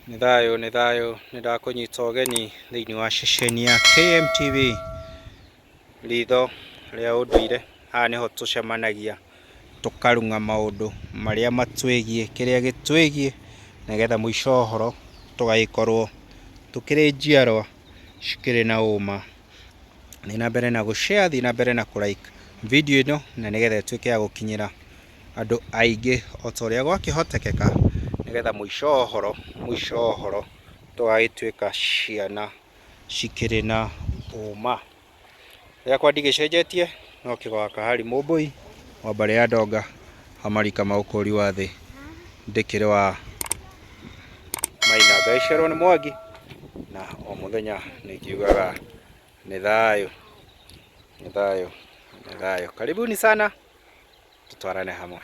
Nĩ thayũ nĩ thayũ nĩ ndakũnyita ũgeni thĩinĩ wa ceceni ya KMTV ritho rĩa ũndũire. Haha nĩho tũcemanagia tũkarung'a maũndũ marĩa matwĩgiĩ, kĩrĩa gĩtwĩgiĩ nĩgetha mũico wa ũhoro tũgagĩkorwo tũkĩrĩ njiarwa cikĩrĩ na ũma. Thiĩ na mbere na gũ share, thiĩ na mbere na kũ like video ĩno na nĩgetha ĩtuĩke ya gũkinyĩra... andũ aingĩ o ta ũrĩa gwakĩhotekeka nĩgetha mũico wa ũhoro, mũico wa ũhoro tũgagĩtuĩka ciana cikĩrĩ na ũũma. Rĩakwa ndigĩcenjetie no kĩgo gaka Harry Mũmbũi wa mbarĩ ya Ndonga wa marika ma ũkũri wa thĩ ndĩkĩrĩ wa Maina ngaĩcerwo nĩ Mwangi na o mũthenya nĩ ngiugaga nĩ thayũ, nĩ thayũ, nĩ thayũ. Karibuni sana. tũtwarane hamwe.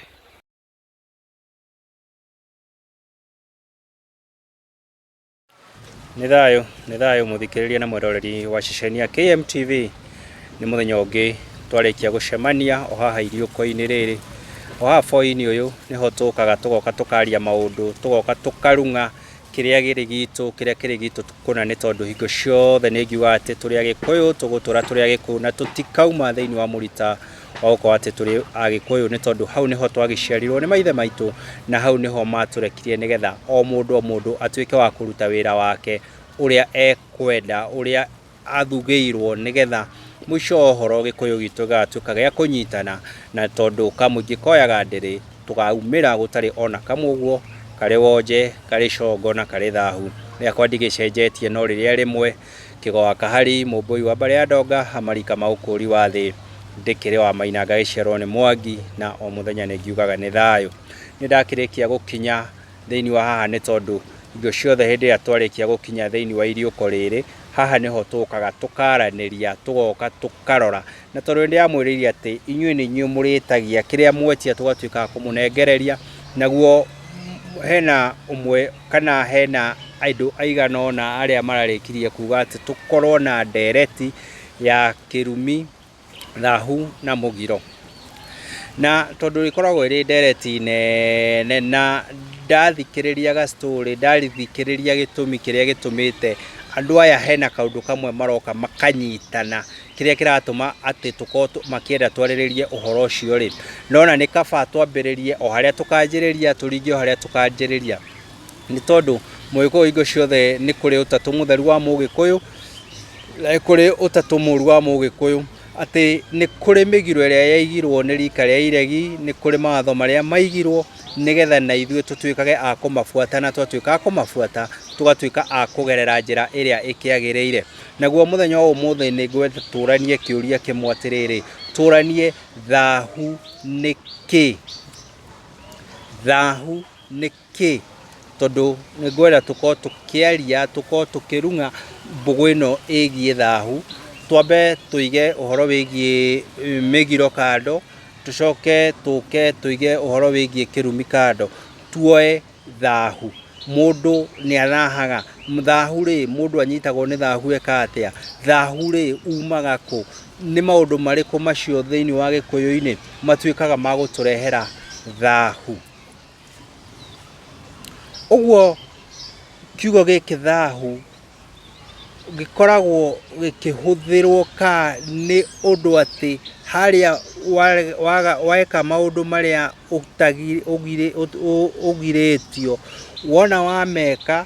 Nĩ thayũ, nĩ thayũ mũthikĩrĩria na mwĩroreri wa ceceni ya KMTV. Nĩ mũthenya ũngĩ twarĩkia gũcemania o haha iriũko-inĩ rĩrĩ. O haha boi-inĩ ũyũ nĩho tũkaga tũgoka tũkaria maũndũ, tũgoka tũkarung'a kĩrĩa gĩrĩ gitũ kĩrĩa kĩrĩ gitũ kũna nĩ tondũ hingo ciothe nĩ ngiuga atĩ tũrĩ agĩkũyũ tũgũtũra tũrĩ agĩkũyũ na tũtikauma thĩinĩ wa mũrita wa gũkorwo atĩ tũrĩ agĩkũyũ nĩ tondũ hau nĩho twagĩciarirwo nĩ maithe maitũ na hau nĩho matũrekirie nĩgetha o mũndũ o mũndũ atuĩke wa kũruta wĩra wake ũrĩa ekwenda ũrĩa athugĩirwo nĩgetha mũico wa ũhoro gĩkũyũ gitũ gĩgatuĩka gĩa kũnyitana na tondũ kamũingĩ koyaga ndĩrĩ tũkaumĩra gũtarĩ ona kamwe ũguo karĩ wonje karĩ congo na karĩ thahu rĩakwa ndigĩcenjetie no rĩrĩa rĩmwe kĩgoa kahari mũmbũi wa mbarĩ ya ndonga amarika ma ũkũri wa thĩ ndĩkĩrĩ wa maina ngagĩciarwo nĩ mwangi na o mũthenya nĩ ngiugaga nĩ thayũ nĩ ndakĩrĩkia gũkinya thĩinĩ wa haha nĩ tondũ hingo ciothe hĩndĩ ĩrĩa twarĩkia gũkinya thĩinĩ wa iriũko rĩrĩ, haha nĩho tũkaga tũkaranĩria, tũgoka tũkarora. Na tondũ nĩ ndĩramwĩrĩire atĩ inyuĩ nĩ inyuĩ mũrĩtagia, kĩrĩa mwetia tũgatuĩka a kũmũnengereria, naguo hena ũmwe kana hena andũ aigana ũna arĩa mararĩkirie kuga atĩ tũkorwo na ndereti ya kĩrumi thahu na mũgiro. Na tondũ ĩkoragwo ĩrĩ ndereti nene na ndathikĩrĩria ga story, ndathikĩrĩria gĩtũmi kĩrĩa gĩtũmĩte andũ aya hena kaũndũ kamwe maroka makanyitana kĩrĩa kĩratũma atĩ tũkorwo makĩenda twarĩrĩrie ũhoro ũcio rĩ, nona nĩ kaba twambĩrĩrie o harĩa tũkanjĩrĩria tũringe o harĩa tũkanjĩrĩria. nĩ tondũ mũgĩkũyũ hingo ciothe nĩ kũrĩ ũtatũ mũtheru wa mũgĩkũyũ na nĩ kũrĩ ũtatũ mũru wa mũgĩkũyũ atĩ nĩ kũrĩ mĩgiro ĩrĩa yaigirwo nĩ rika rĩa iregi nĩ kũrĩ mawatho marĩa maigirwo nĩgetha na ithuĩ tũtuĩkage a kũmabuata na twatuĩka a kũmabuata tũgatuĩka a kũgerera njĩra ĩrĩa ĩkĩagĩrĩire naguo mũthenya wa ũmũthĩ nĩ ngwenda tũranie kĩũria kĩmwe atĩrĩrĩ tũranie thahu nĩ kĩ thahu nĩ kĩ? Tondũ nĩ ngwenda tũkorwo tũkĩaria, tũkorwo tũkĩrung'a mbũgũ ĩno ĩgiĩ thahu. Twambe tũige ũhoro wĩgiĩ mĩgiro kando, tũcoke tũke tũige ũhoro wĩgiĩ kĩrumi kando, tuoe thahu. Mũndũ nĩ arahaga, thahu rĩ, mũndũ anyitagwo nĩ thahu eka atĩa? Thahu rĩ, umaga kũ? Nĩ maũndũ marĩkũ macio thĩiniĩ wa Gĩkũyũ-inĩ matuĩkaga ma gũtũrehera thahu? Ũguo kiugo gĩkĩ thaahu gĩkoragwo gĩkĩhũthĩrwo ka nĩ ũndũ atĩ harĩa weka maũndũ marĩa ũgirĩtio, wona wameka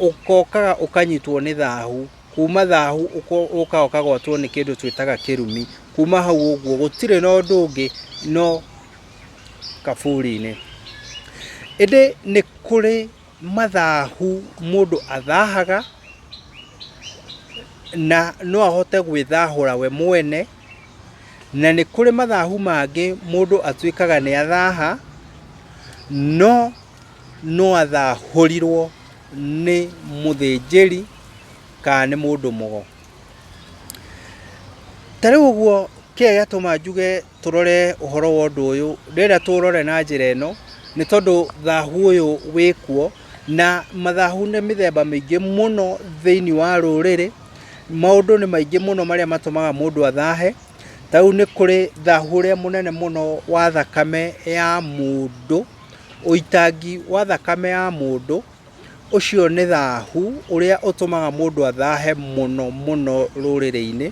ũkokaga ũkanyitwo nĩ thaahu, kuuma thaahu ũgoka ũkagwatwo nĩ kĩndũ twĩtaga kĩrumi. Kuuma hau ũguo gũtirĩ na ũndũ ũngĩ no kaburi-inĩ. Ĩndĩ nĩ kũrĩ mathahu mũndũ athahaga na no ahote gwĩthahũra we mwene, na nĩ kũrĩ mathahu mangĩ mũndũ atuĩkaga nĩ athaha no no athahũrirwo nĩ mũthĩnjĩri kana nĩ mũndũ mũgo. Ta rĩu ũguo kĩrĩa gĩatũma njuge... tũrore ũhoro wa ũndũ ũyũ, ndĩrenda tũũrore na njĩra ĩno, nĩ tondũ thahu ũyũ wĩkuo, na mathahu nĩ mĩthemba mĩingĩ mũno thĩinĩ wa rũrĩrĩ, maũndũ nĩ maingĩ mũno marĩa matũmaga mũndũ athahe, ta rĩu nĩ kũrĩ thahu ũrĩa mũnene mũno wa thakame ya mũndũ, ũitangi wa thakame ya mũndũ, ũcio nĩ thahu ũrĩa ũtũmaga mũndũ athahe mũno mũno rũrĩrĩ-inĩ.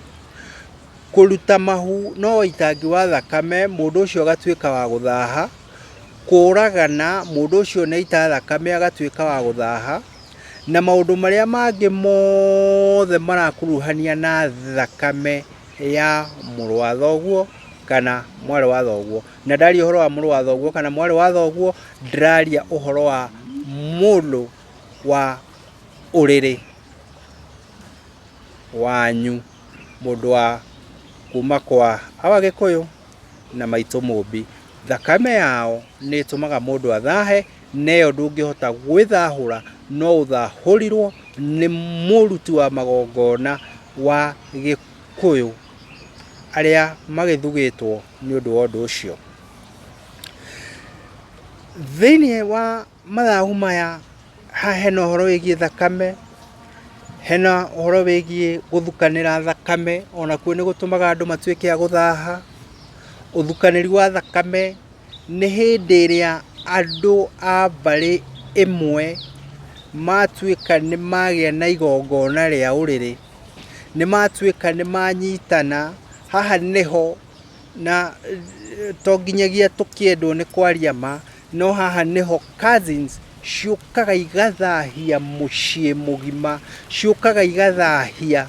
Kũruta mahu na ũitangi wa thakame mũndũ ũcio agatuĩka wa gũthaha, kũragana mũndũ ũcio nĩ aita thakame agatuĩka wa gũthaha, na maũndũ marĩa mangĩ mothe marakuruhania na thakame ya mũrũ wa thoguo kana mwarĩ wa thoguo. Na ndaria ũhoro wa mũrũ wa thoguo kana mwarĩ wa thoguo ndĩraria ũhoro wa mũndũ wa ũrĩrĩ. wanyu, mũndũ wa kuma kwa awa Gĩkũyũ na maitũ Mũmbi. Thakame yao nĩ ĩtũmaga mũndũ athahe, na ĩyo ndũngĩhota gwĩthahũra, no ũthahũrirwo nĩ mũruti wa magongona wa Gĩkũyũ, arĩa magĩthugĩtwo nĩ ũndũ wa ũndũ ũcio. Thĩiniĩ wa Mathagu maya, haha hena ũhoro wĩgiĩ thakame, hena ũhoro wĩgiĩ gũthukanĩra thakame, ona kuo nĩ gũtũmaga andũ matuĩke a gũthaha. Ũthukanĩri wa thakame nĩ hĩndĩ ĩrĩa andũ a mbarĩ ĩmwe matuĩka nĩ magĩa na igongona rĩa ũrĩrĩ, nĩ matuĩka nĩ manyitana, haha nĩho na to nginyagia tũkĩendwo nĩ kwaria ma. No haha nĩho cousins ciũkaga igathahia mũciĩ mũgima, ciũkaga igathahia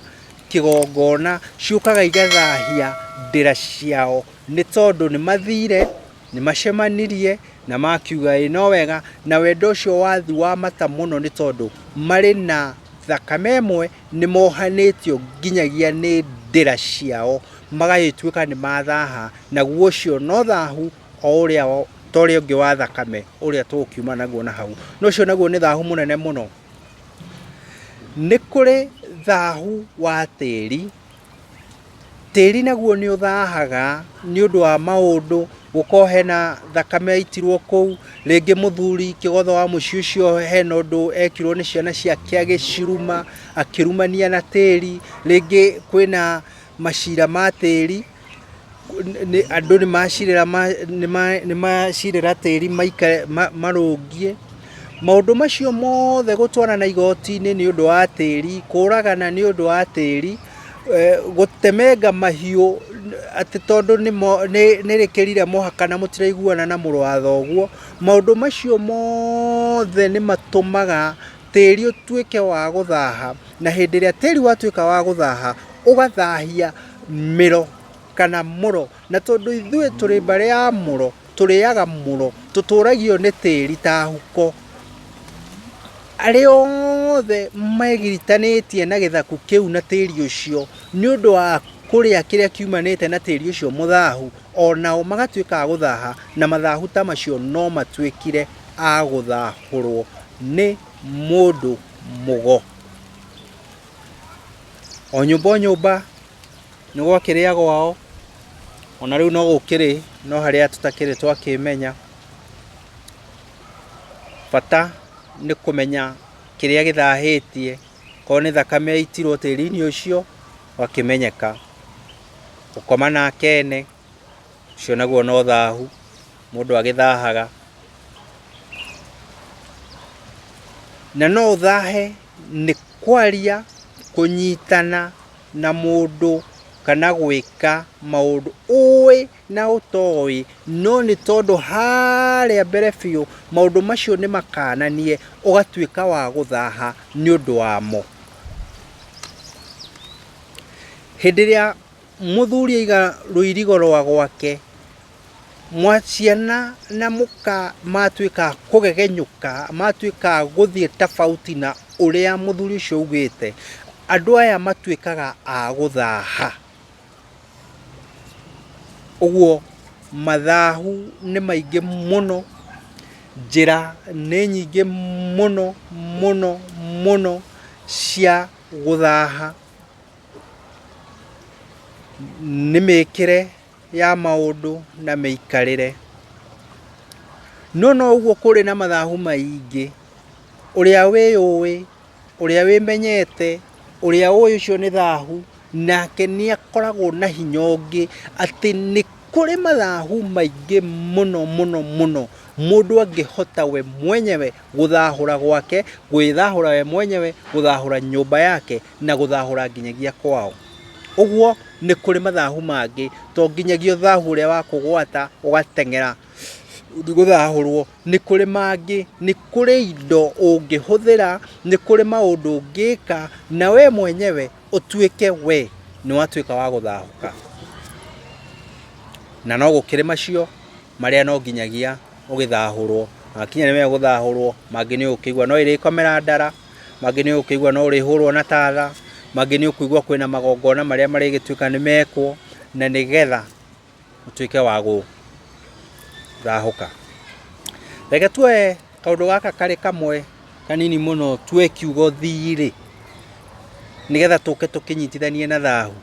kĩgongona, ciũkaga igathahia ndĩra ciao, nĩ tondũ nĩ mathire, nĩ macemanirie na makiuga ĩ no wega, na wendo ũcio wathi wa mata mũno nĩ tondũ marĩ na thakame ĩmwe, nĩ mohanĩtio nginyagia nĩ ndĩra ciao, magagĩtuĩka nĩ mathaha, naguo ũcio no thahu o ũrĩa o ta ũrĩa ũngĩ wa thakame ũrĩa tũgũkiuma naguo na hau na ũcio naguo nĩ thahu mũnene mũno nĩ kũrĩ thahu wa tĩri tĩri naguo nĩ ũthahaga nĩ ũndũ wa maũndũ gũkorwo hena thakame yaitirwo kũu rĩngĩ mũthuri kĩgotho wa mũciĩ ũcio hena ũndũ ekirwo nĩ ciana ciake agĩciruma akĩrumania na tĩri rĩngĩ kwĩna macira ma tĩri nĩ andũ nĩ macirĩra ma- nĩ ma- nĩ macirĩra tĩri maikare ma- marũngie maũndũ macio mothe gũtwarana igoti-inĩ nĩ ũndũ wa tĩri kũragana nĩ ũndũ wa tĩri eh, gũtemenga mahiũ atĩ tondũ nĩ mo- nĩ- nĩ rĩkĩrire mũhaka na mũtiraiguana na mũrũ wa thoguo maũndũ macio mothe nĩ matũmaga tĩri ũtuĩke wa gũthaha na hĩndĩ ĩrĩa tĩri watuĩka wa gũthaha ũgathahia mĩro kana mũro na tondũ ithuĩ tũrĩ mbarĩ ya mũro tũrĩaga mũro tũtũragio nĩ tĩri ta huko arĩa othe megiritanĩtie na gĩthaku kĩu na tĩri ũcio nĩ ũndũ wa kũrĩa kĩrĩa kiumanĩte na tĩri ũcio mũthahu onao magatuĩka a gũthaha na mathahu ta macio no matuĩkire a gũthahũrwo nĩ mũndũ mũgo. O nyũmba o nyũmba nĩ gwakĩrĩ a gwao, ona rĩu no gũkĩrĩ no harĩa tũtakĩrĩ twakĩmenya. Bata nĩ kũmenya kĩrĩa gĩthahĩtie, korwo nĩ thakame yaitirwo tĩri-inĩ ũcio ũgakĩmenyeka. Gũkoma nake ene, ũcio naguo no thahu, mũndũ agĩthahaga. Na no ũthahe... nĩ kwaria, kũnyitana na mũndũ kana gwĩka maũndũ ũĩ na ũtoĩ, no nĩ tondũ harĩa mbere biũ maũndũ macio nĩ makananie ũgatuĩka wa gũthaha nĩ ũndũ wamo. Hĩndĩ ĩrĩa mũthuri aiga rũirigo rwa gwake mwa ciana na mũka matuĩka kũgegenyũka matuĩka gũthiĩ tofauti na ũrĩa mũthuri ũcio augĩte andũ aya matuĩkaga a gũthaha ũguo mathahu nĩ maingĩ mũno njĩra nĩ nyingĩ mũno mũno mũno cia gũthaha nĩ mĩkĩre ya maũndũ na mĩikarĩre. No noguo kũrĩ na mathahu maingĩ. Ũrĩa wĩyũĩ, ũrĩa wĩmenyete, ũrĩa ũĩ ũcio nĩ thahu, nake nĩ akoragwo na hinya ũngĩ atĩ nĩ kũrĩ mathahu maingĩ mũno mũno mũno mũndũ angĩhota we mwenyewe gũthahũra gwake, gwĩthahũra we mwenyewe, gũthahũra nyũmba yake, na gũthahũra nginyagia kwao. Ũguo nĩ kũrĩ mathahu mangĩ to nginyagia ũthahu ũrĩa wa kũgwata ũgateng'era gũthahũrwo. Nĩ kũrĩ mangĩ, nĩ kũrĩ indo ũngĩhũthĩra, nĩ kũrĩ maũndũ ũngĩka na we mwenyewe ũtuĩke we nĩ watuĩka wa gũthahũka. Na no gũkĩrĩ macio. marĩa no nginyagia ũgĩthahũrwo makinya nĩ megũthahũrwo mangĩ nĩ ũkĩigua no ĩrĩkomera ndara mangĩ nĩ ũkĩigua no ũrĩhũrwo na tatha mangĩ nĩ ũkũigua kwĩna magongona marĩa marĩgĩtuĩka nĩ mekwo na nĩ getha ũtuĩke wa gũthahũka reke tuoe kaũndũ gaka karĩ kamwe kanini mũno tuoe kiugo thirĩ nĩ getha tũke tũkĩnyitithanie na thahu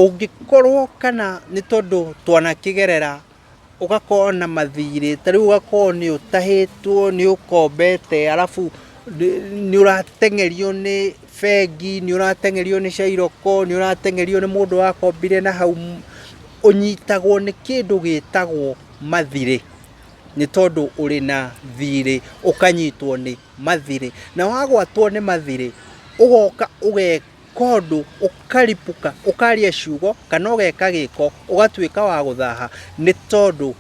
Ũngĩkorwo kana nĩ tondũ twanakĩgerera ũgakorwo na mathirĩ, ta rĩu ũgakorwo nĩ ũtahĩtwo, nĩ ũkombete arabu nĩ ũrateng'erio nĩ bengi, nĩ ũrateng'erio nĩ cairoko, nĩ ũrateng'erio nĩ mũndũ wakombire na hau, ũnyitagwo nĩ kĩndũ gĩtagwo mathirĩ nĩ tondũ ũrĩ na thirĩ ũkanyitwo nĩ. mathirĩ, na wagwatwo nĩ mathirĩ ũgoka ũgeka ũndũ ũkaripũka ũkaria ciugo kana ũgeka gĩko ũgatuĩka wa gũthaha nĩ tondũ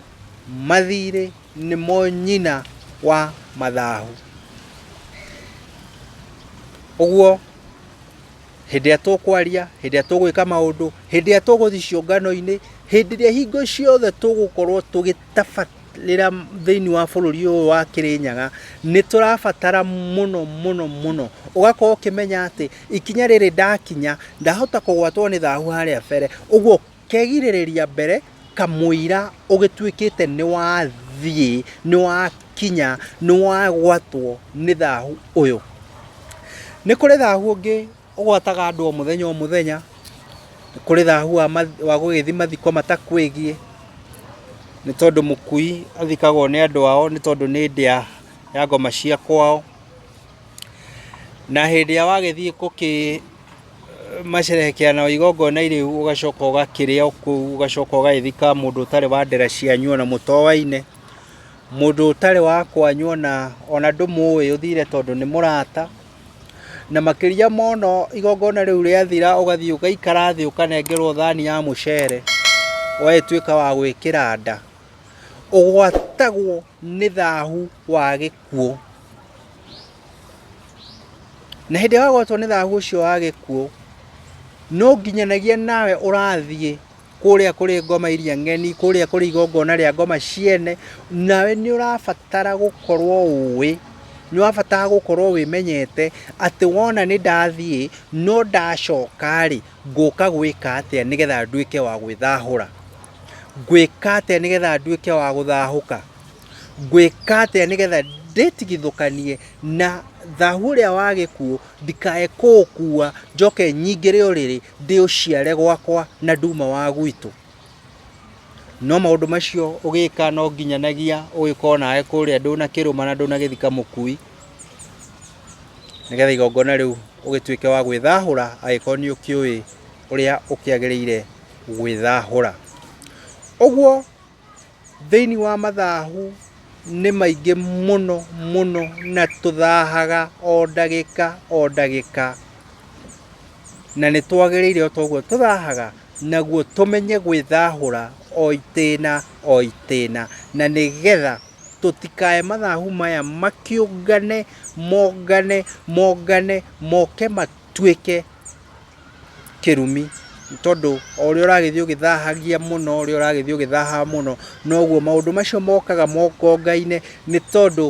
mathirĩ nĩmo nyina wa mathahu. Ũguo hĩndĩ ĩrĩa tũkwaria hĩndĩ ĩrĩa tũgwĩka maũndũ hĩndĩ ĩrĩa tũgũthiĩ ciũngano-inĩ hĩndĩ ĩrĩa hingo ciothe tũgũkorwo tũgĩtabania rĩra thĩinĩ wa bũrũri ũyũ wa Kĩrĩnyaga nĩ tũrabatara mũno mũno mũno ũgakorwo ũkĩmenya atĩ ikinya rĩrĩ ndakinya ndahota kũgwatwo nĩ thahu harĩa mbere ũguo kegirĩrĩria mbere kamũira ũgĩtuĩkĩte nĩ wathiĩ nĩ wakinya nĩ wagwatwo nĩ thahu ũyũ. Nĩ kũrĩ thahu ũngĩ ũgwataga andũ o mũthenya o mũthenya nĩ kũrĩ thahu wa math- wa gũgĩthiĩ mathiko matakwĩgiĩ nĩ tondũ mũkui athikagwo nĩ andũ ao nĩ tondũ nĩ ndĩa ya ngoma cia kwao na hĩndĩ ĩrĩa wagĩthiĩ gũkĩ macerehekea na igongona irĩu ũgacoka ũgakĩrĩa o kũu ũgacoka ũgagĩthika mũndũ ũtarĩ wa ndera cianyu ona mũtoaine mũndũ ũtarĩ wa kwanyu ona ona ndũmũĩ ũthire tondũ nĩ mũrata Na makĩria mono igongona rĩu rĩathira ũgathiĩ ũgaikara thĩ ũkanengerwo thani ya mũcere ũgagĩtuĩka wa gwĩkĩra nda ũgwatagwo nĩ thahu wa gĩkuũ na hĩndĩ ĩrĩa wagwatwo nĩ thahu ũcio wa gĩkuũ no nginyanagia nawe ũrathiĩ kũrĩa kũrĩ ngoma iria ng'eni kũrĩa kũrĩ igongona rĩa ngoma ciene nawe nĩ ũrabatara gũkorwo ũĩ nĩ wabatara gũkorwo wĩmenyete atĩ wona nĩ ndathiĩ no ndacoka rĩ ngũka gwĩka atĩa nĩgetha nduĩke wa gwĩthahũra ngwĩka atĩa nĩgetha nduĩke wa gũthahũka ngwĩka atĩa nĩgetha ndĩtigithũkanie na thahu ũrĩa wa gĩkuũ ndikae kũũkua njoke nyingĩre ũrĩrĩ ndĩ ũciare gwakwa na nduma wa gwitũ. No maũndũ macio ũgĩka no nginyanagia ũgĩkorwo nawe kũrĩa ndũ na kĩrũma na ndũ na gĩthika mũkui nĩgetha igongona rĩu ũgĩtuĩke wa gwĩthahũra agĩkorwo nĩ ũkĩũĩ ũrĩa ũkĩagĩrĩire gwĩthahũra. Ũguo Thĩinĩ wa mathahu nĩ maingĩ mũno mũno na tũthahaga o ndagĩka o ndagĩka, na nĩ twagĩrĩire o ta ũguo tũthahaga, naguo tũmenye gwĩthahũra o itĩna o itĩna, na nĩ getha tũtikae mathahu maya makĩũngane mongane mongane moke matuĩke... kĩrumi, nĩ tondũ o ũrĩa ũragĩthiĩ ũgĩthahagia mũno, o ũrĩa ũragĩthiĩ ũgĩthahaga mũno, noguo maũndũ macio mokaga mongongaine, nĩ tondũ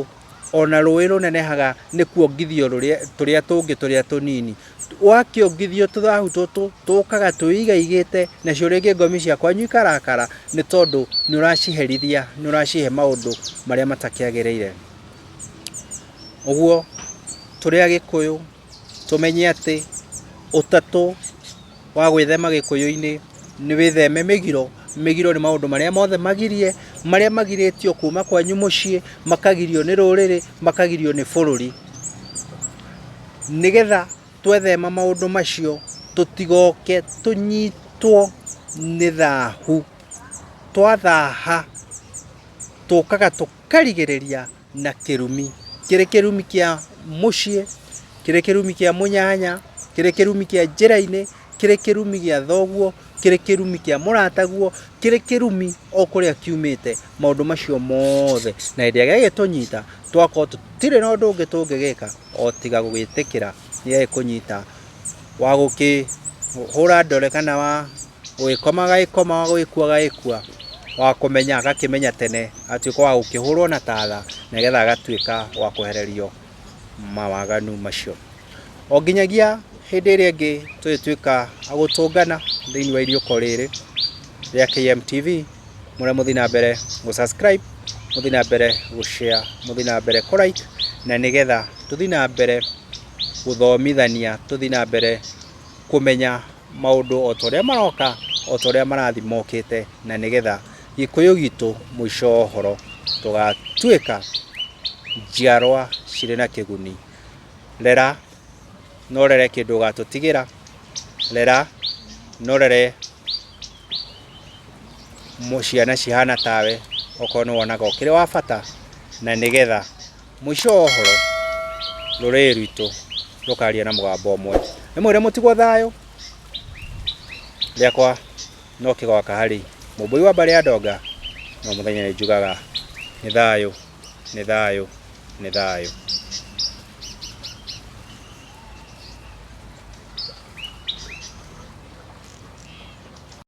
ona rũĩ rũnenehaga nĩ kuongithio rũrĩa tũrĩa tũngĩ tũrĩa tũnini. Wakĩongithio tũthahu tũtũ, tũkaga twĩigaigĩte, nacio rĩngĩ ngomi cia kwanyu ikarakara, nĩ tondũ nĩ ũraciherithia, nĩ ũracihe maũndũ marĩa matakĩagĩrĩire. Ũguo, tũrĩ Agĩkũyũ, tũmenye atĩ ũtatũ wa gwĩthema gĩkũyũ-inĩ nĩ wĩtheme mĩgiro. Mĩgiro nĩ maũndũ marĩa mothe magirie, marĩa magirĩtio kuma kwanyu mũciĩ, makagirio nĩ rũrĩrĩ, makagirio nĩ bũrũri. Nĩgetha twethema maũndũ macio tũtigoke tũnyitwo nĩ thahu. Twathaha tũkaga tũkarigĩrĩria. na kĩrumi kĩrĩ kĩrumi kĩa mũciĩ kĩrĩ kĩrumi kĩa mũnyanya kĩrĩ kĩrumi kĩa njĩra-inĩ kĩrĩ kĩrumi gĩa thoguo kĩrĩ kĩrumi kĩa mũrataguo kĩrĩ kĩrumi o kũrĩa kiumĩte maũndũ macio mothe na hĩndĩ ĩrĩa gĩgĩtũnyita twakorwo tũtirĩ na ũndũ ũngĩ tũngĩgĩka o tiga gũgĩtĩkĩra nĩ kũnyita wa gũkĩhũra ndore kana wa gũgĩkoma agagĩkoma wa gũgĩkua agagĩkua wa kũmenya agakĩmenya tene agatuĩka wa gũkĩhũrwo na tatha nĩgetha agatuĩka wa kwehererio mawaganu macio o nginyagia hĩndĩ ĩrĩa ĩngĩ tũgĩtuĩka agũtũngana thĩinĩ wa iriũko rĩrĩ rĩa KMTV mũrĩa mũthiĩ na mbere gũ subscribe mũthiĩ na mbere gũ share mũthiĩ na mbere kũ like na nĩgetha tũthiĩ na mbere gũthomithania tũthiĩ na mbere kũmenya maũndũ o ta ũrĩa maroka, o ta ũrĩa marathiĩ mokĩte, na nĩgetha Gĩkũyũ gitũ mũico wa ũhoro tũgatuĩka njiarwa cirĩ na kĩguni. Rera na ũrere kĩndũ ũgatũtigĩra, rera na ũrere ciana cihana tawe, okorwo nĩ wonaga ũkĩrĩ wa bata na nĩgetha Mũico wa ũhoro, rũrĩrĩ rwitũ rũkaria na mũgambo ũmwe, nĩmwĩre mũtigwo thayũ, rĩakwa no kĩgoka harĩ mũmbũi wa mbarĩ ya ndonga, no mũthenya nĩnjugaga nĩ thayũ, nĩ thayũ, nĩ thayũ.